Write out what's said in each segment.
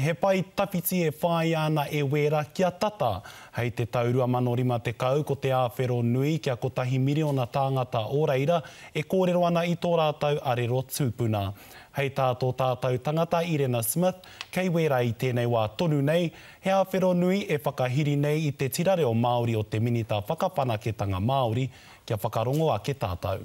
He pae tawhiti e whāia ana e Wēra kia tata. Hei te tau 2050 ko te āwhero nui kia kotahi miriona tāngata o reira e kōrero ana i tō rātou arero tūpuna. Hei tā tō tātou tangata Irena Smith, kei Wēra i tēnei wā tonu nei, he āwhero nui e whakahiri nei i te tira reo Māori o te Minita Whakawhanaketanga Māori kia whakarongo ake tātou.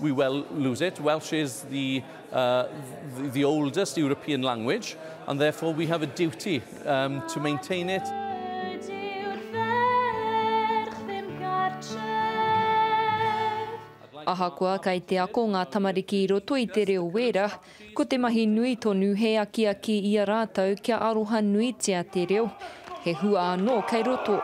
We well lose it, Welsh is the uh, the oldest European language and therefore we have a duty um, to maintain it. Ahakoa kei te ako ngā tamariki i roto i te reo wēra, Ko te mahi nui tonu he akiaki i a rātou kia aroha nuitia te reo, he hua anō kei roto.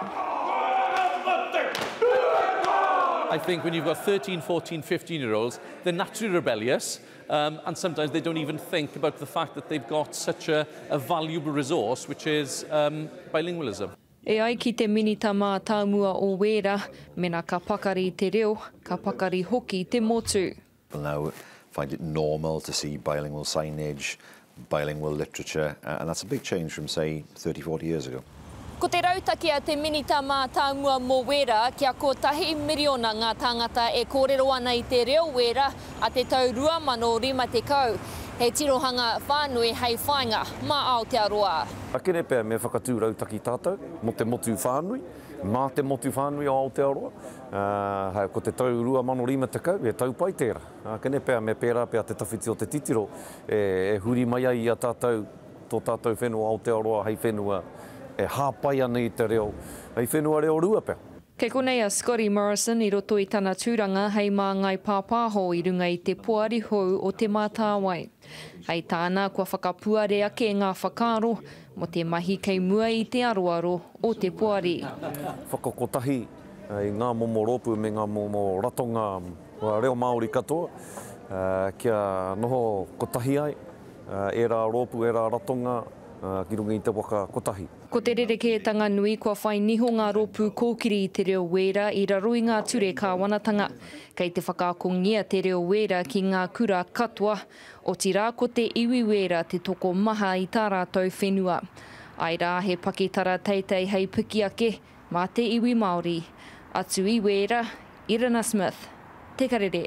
I think when you've got 13, 14, 15 year olds, they're naturally rebellious, um, and sometimes they don't even think about the fact that they've got such a, a valuable resource, which is um, bilingualism. E ai ki te Minita Mātāmua o Wēra, mena ka pakari te reo, ka pakari hoki te motu. will now find it normal to see bilingual signage, bilingual literature, and that's a big change from, say, 30, 40 years ago. Ko te rautaki a te Minita Mātāmua mō Wēra, kia kotahi miriona ngā tāngata e kōrero ana i te reo Wēra a te tau 2050, he tirohanga whānui hei whāinga mā Aotearoa. Akere pea me whakatū rautaki tātou mō te motu whānui, mā te motu whānui o Aotearoa, Ā, ko te tau 2050, he tau pai tērā. Ā, kene pea me pērā pea te tawhiti o te titiro e huri mai ai i a tātou tō tātou whenua Aotearoa hei whenua e hāpai ana i te reo, hei whenua reo rua pea. Kei konei a Scotty Morrison i roto i tana tūranga hei māngai pāpāho i runga i te Poari Hou o Te Mātāwai. Hei tāna, kua whakapuare ake ngā whakaaro, Mō te mahi kei mua i te aroaro o te poari. Whakakotahi i ngā momo rōpū me ngā momo ratonga reo Māori katoa kia noho kotahi ai ērā rōpū, ērā ratonga ki runga i te waka kotahi. Ko te rerekētanga nui kua whai niho ngā rōpū kōkiri i te reo wēra i raro i ngā ture kāwanatanga. Kei te whakaakongia te reo wēra ki ngā kura katoa. Otirā ko te iwi Wēra te tokomaha i tā rātou whenua. Āe rā, he pakitara teitei hei piki ake mā te iwi Māori. Atu i Wēra, Irina Smith, Te Karere.